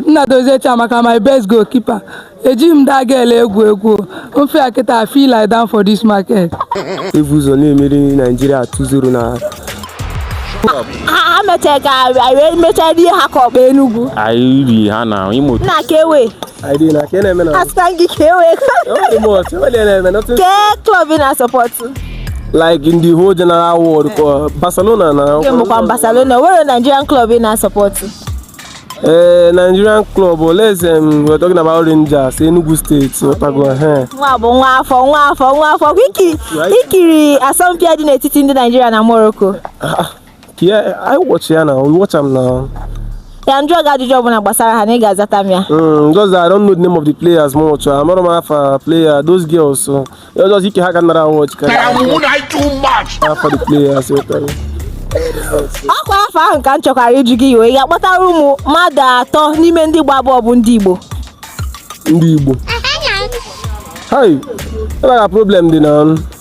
nnadozie chiamaka my best goalkeeper ejighị m that girl egwu egwu ofe a kịta feel like down for this market e bu ụzọ na-emeri naijiria 2-0 na ha mechara ka anyị wee mechaa rie ha ka ọkpa enugwu anyị ri ha na imo nna ka ewe Aidị na ka ị na-eme na Asịkwa gị ka e wee Enweghị m ọchị, enweghị ihe na-eme nothing kee klọb ị na-asupport like in the whole general world ka Barcelona na nke mbụkwa Barcelona were Nigerian klọb ị na-asupport ee Nigerian club oleze m we're talking about Rangers Enugu State ọtago ehe nwa bụ nwa afọ nwa afọ nwa afọ kwa i ki- i kiri asọmpi a dị n'etiti ndị Naijiria na Morocco Yeah, I watch ya now. We watch am now. ya m jụọ gị ajụjụ ọbụla gbasara ha na ị ga-azata m ya Mm, just that I don't know the name of the players much. I'm not afa player. Those girls, so you just ike ha ka nara watch ka afa the players. you tell me. ọkwa afa ahụ ka m chọkwara ịjụ gị iwe ị ga-akpọtara m mmadụ atọ n'ime ndị gba bọọlụ bụ ndị Igbo Ndị Igbo. Hi, ebe a problem dị na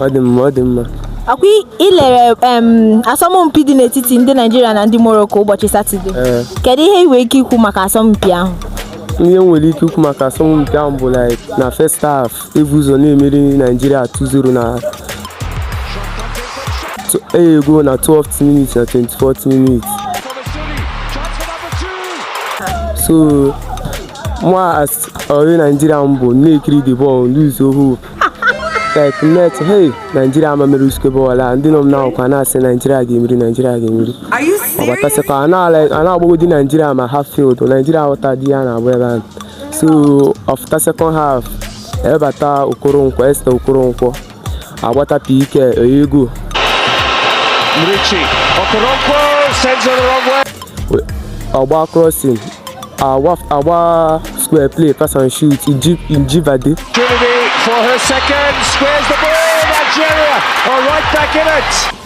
ọ dị mma ọ dị mma ọkwa i lere asọmpi dị n'etiti ndị naijiria na ndị morocco ụbọchị satọde kedu ihe ị nwere ike ikwu maka asọmpi ahụ ihe m nwere ike ikwu maka asọmpi ahụ bụ na first half e bu ụzọ na-emeri naijiria 2-0 nye goal na 12th minute na 24th minute so mụwa as onye naijiria m bụ na-ekiri the ball lose hope like net hey naijiria ama emeri uskebe ọla ndị nọ m n'akụkụ na-asị naijiria ga-emeri naijiria ga-emeri ọbatasịkwa a na-agbagodi naijiria na half field naijiria aghọtadị ihe a na-agba ebe ahụ so ọ fụta second half ebata okoronkwo esther okoronkwo agbata pk o nye goal ọ gba crossing A gba square play pass and shoot Ajibade. Opportunity for her second squares the ball Nigeria are right back in it.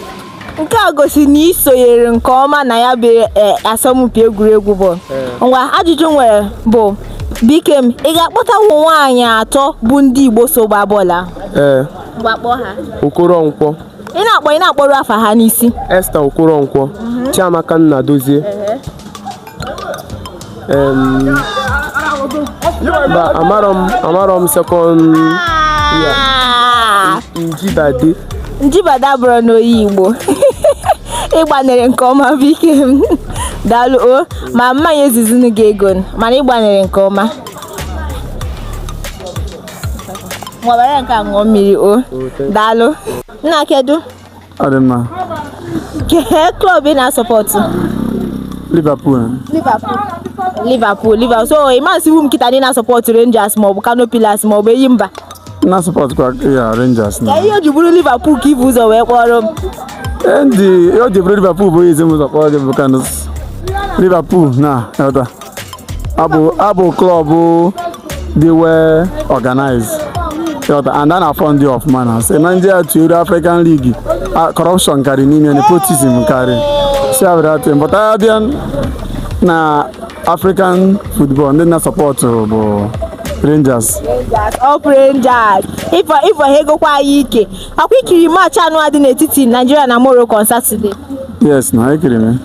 nke a gosi na ị sonyere nke ọma na ya bụ eh, asọmpi egwuregwu bụ eh. ngwa ajụjụ m nwere bụ Buikem ị ga-akpọta ụmụ nwaanyị atọ bụ ndị Igbo so gbaa bọọlụ ahụ ee eh. ngwa kpọọ ha Okoronkwo ị na-akpọ ị na-akpọrọ afa ha n'isi Esther Okoronkwo mhm. Chiamaka Nnadozie mba amarọ m amarọ m sekọnd ya ajibade ajibade abụrọnụ onye igbo ị gbanịrị nke ọma buikem daalụ o ama m enyezizinu gị ego mana ị gbanịrị nke ọma ngwa were nke a ṅụọ mmiri o daalụ nna kedu ọ dị mma Kee klọb ị na-asọpọtụ? Liverpool Liverpool. Liverpool, Liverpool. So ị masị iwu m kịta na ị na-asọpọtụ Rangers maọbụ Kano Pillars maọbụ Enyimba. na support kwa ya Rangers na Kee ihe o ji bụrụ Liverpool ka i bu ụzọ wee kpọrọ m. ihe o ji bụrụ Liverpool bụ ezi m ụzọ kpọrọ gị bụ maka na Liverpool na elda abụ abụ klọb dị well organized ị ghọta and a na-afọndị ọfụma na sị na ndị a tuere African League a- corruption karị n'ime nepotism karị si abịrịatị mpụta ya bịa na African football ndị m na-asọpọtụ bụ Rangers Rangers, up Rangers. Ifo ifo ha agwụkwa anyị ike. A kwa i kiri maachị anụ a dị n'etiti Naijiria na Morocco on Saturday? Yes na, ekiri m.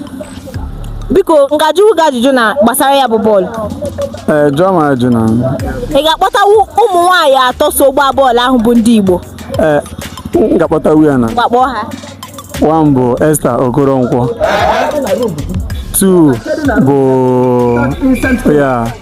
Biko, m ga-ajụ gị ajụjụ na gbasara ya bụ bọọlụ. Ee, jụọ m ajụ na. Ị ga-akpọtawu ụmụ nwaanyị atọ so gbaa bọọlụ ahụ bụ ndị Igbo? Ee, m ga-akpọtawu ya na. Ngwa kpọọ ha. One bụ Esther Okoronkwo. Two bụ ya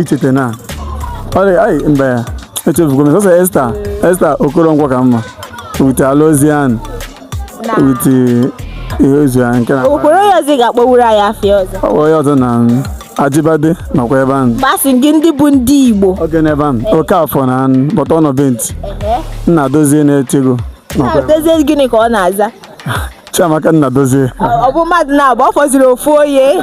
icheta na ọrịa anyị mgbe echefugo m sọsọ esta esta okoronkwo ka m ma with alozie and with ihezuo ya nke na okwere onye ọzọ ị ga-akpọwuru anyị afa ya ọzọ ọ bụ onye ọzọ na ajibade nọkwa ebe ahụ mba a sị gị ndị bụ ndị igbo oge n'ebe ahụ okafor na but ọ nọ benchi nnadozie na-eche goal nnadozie gịnị ka ọ na-aza chiamaka nnadozie ọ bụ mmadụ naabọ ọ fọziri ofu onye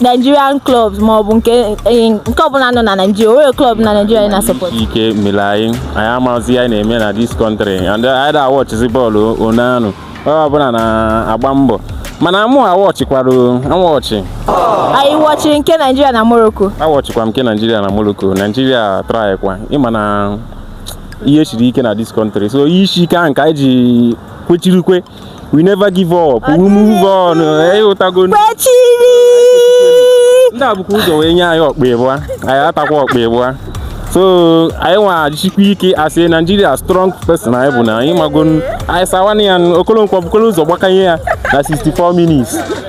Nigerian clubs ma ọ bụ nke eh, nke ọbụla nọ na Nigeria o nwere club na Nigeria na support ike mere anyị anyị amazi ihe anyị na-eme na this country and anyị da awọchizi bọọlụ onanụ onye ọbụla na-agba mbọ mana mụ awọchikwara awọchi anyị wọchiri nke Nigeria na Morocco awọchikwa m nke Nigeria na Morocco Nigeria try kwa ị ma na ihe siri ike na this country so ihe isi ike ahụ ka anyị ji kwechiri ike we never give up we move on ịghọtago kwechiri ndị a bukwa ụzọ wee nye anyị ọkpa ịbụa anyị atakwa ọkpa ịbụa so anyị nwa sikwa ike as naijiria strong person anyị bụ na ị mago anyị asawa anya okolonkwo bukolo ụzọ gbakanye ya na 64 minutes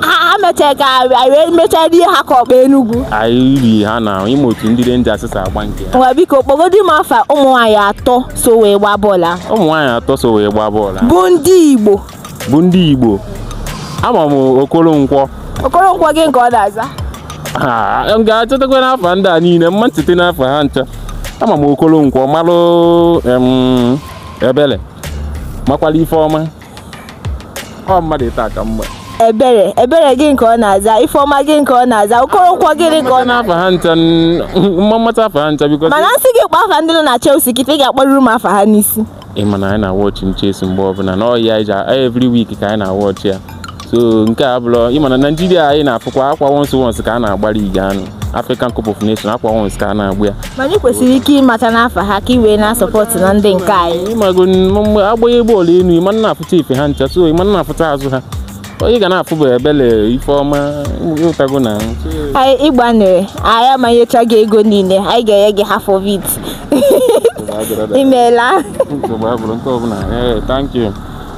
ha mechaa ka anyị wee mechaa rie ha ka ọkpa enugwu anyị rie ha na ị ma otu ndị renjas si agba nke ha nwa biko kpọgodi m afa ụmụ nwaanyị atọ so wee gbaa bọọlụ ahụ ụmụ nwaanyị atọ so wee gbaa bọọlụ ahụ bụ ndị igbo bụ ndị igbo ama m okoronkwo okoronkwo gịnị ka ọ na-aza Ah, m ga-echetakwanụ afa ndị a niile m ma ncheta afa ha ncha ama m okolonkwo malụ em, ebele makwala ifeoma ọ mmadụ ịta aka mgbe ebere ebere gịnị ka ọ na-aza ifeọma gị nke ọ na-aza okoronkwo gịnị ka ọ na- afa ha ncha m ma amata afa ha ncha biko mana m sị gị kpọọ afa ndị nọ na Chelsea kịta ị ga-akpọruru m afa ha n'isi ị ma na anyị na-awọchi Chelsea mgbe ọbụla na ọ ya anyị ji every week ka anyị na-awọchi ya so nke a bụrụ ị ma na naijiria anyị na-afụkwa ọkwa once once ka a na-agbara ige anụ African Cup of Nations ọkwa once ka a na-agba ya ma anyị kwesịrị ike ịmata n'afa ha ka e wee na-asọpọtụ na ndị nke anyị ị mago mgbe a gbanye bọọlụ elu ị ma na-afụta ife ha ncha so ị ma na-afụta azụ ha onye ga na-afụ bụ ebele ifeọma ụtago na anyị ịgbanere anyị ama enyecha gị ego niile anyị ga-enye gị half of it imeela thank you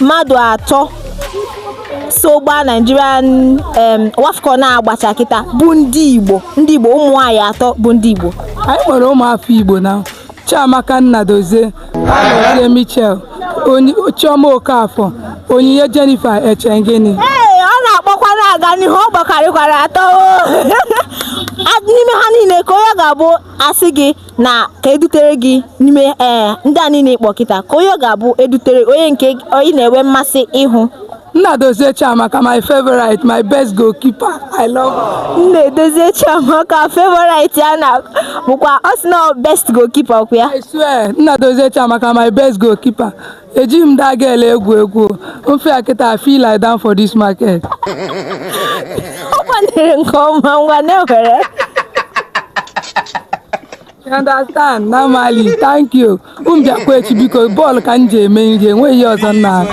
mmadụ atọ so gbaa Nigerian em, WAFCON na-agbacha kịta bụ ndị Igbo ndị Igbo ụmụ nwaanyị atọ bụ ndị Igbo anyị nwere ụmụafọ igbo na chiamaka nnadozie alozie michelle Onyi- chioma okafọ onyinye jennifer echegini ee ọ na-akpọkwa na-aga n'ihu ọ gbakarịkwara atọ o. A- n'ime ha niile ka onye ga-abụ a sị gị na ka edutere gị n'ime ee eh, ndị a niile ị kpọ kịta ka onye ọ ga-abụ edutere onye nke ị na-enwe mmasị ịhụ Nnadozie Chiamaka my favorite my best goalkeeper I love Nnadozie Chiamaka favorite ya na bụkwa ọ sị na best goalkeeper ọkwa ya I swear Nnadozie Chiamaka my best goalkeeper ejighị m that girl egwu egwu m fụ ya kịta I fit lie down for this market ọ kwanyere nke ọma ngwa na-ewere You understand normally thank you m bịakwa echi biko bọọlụ ka m ji eme nri enweghị ihe ọzọ m na-arụ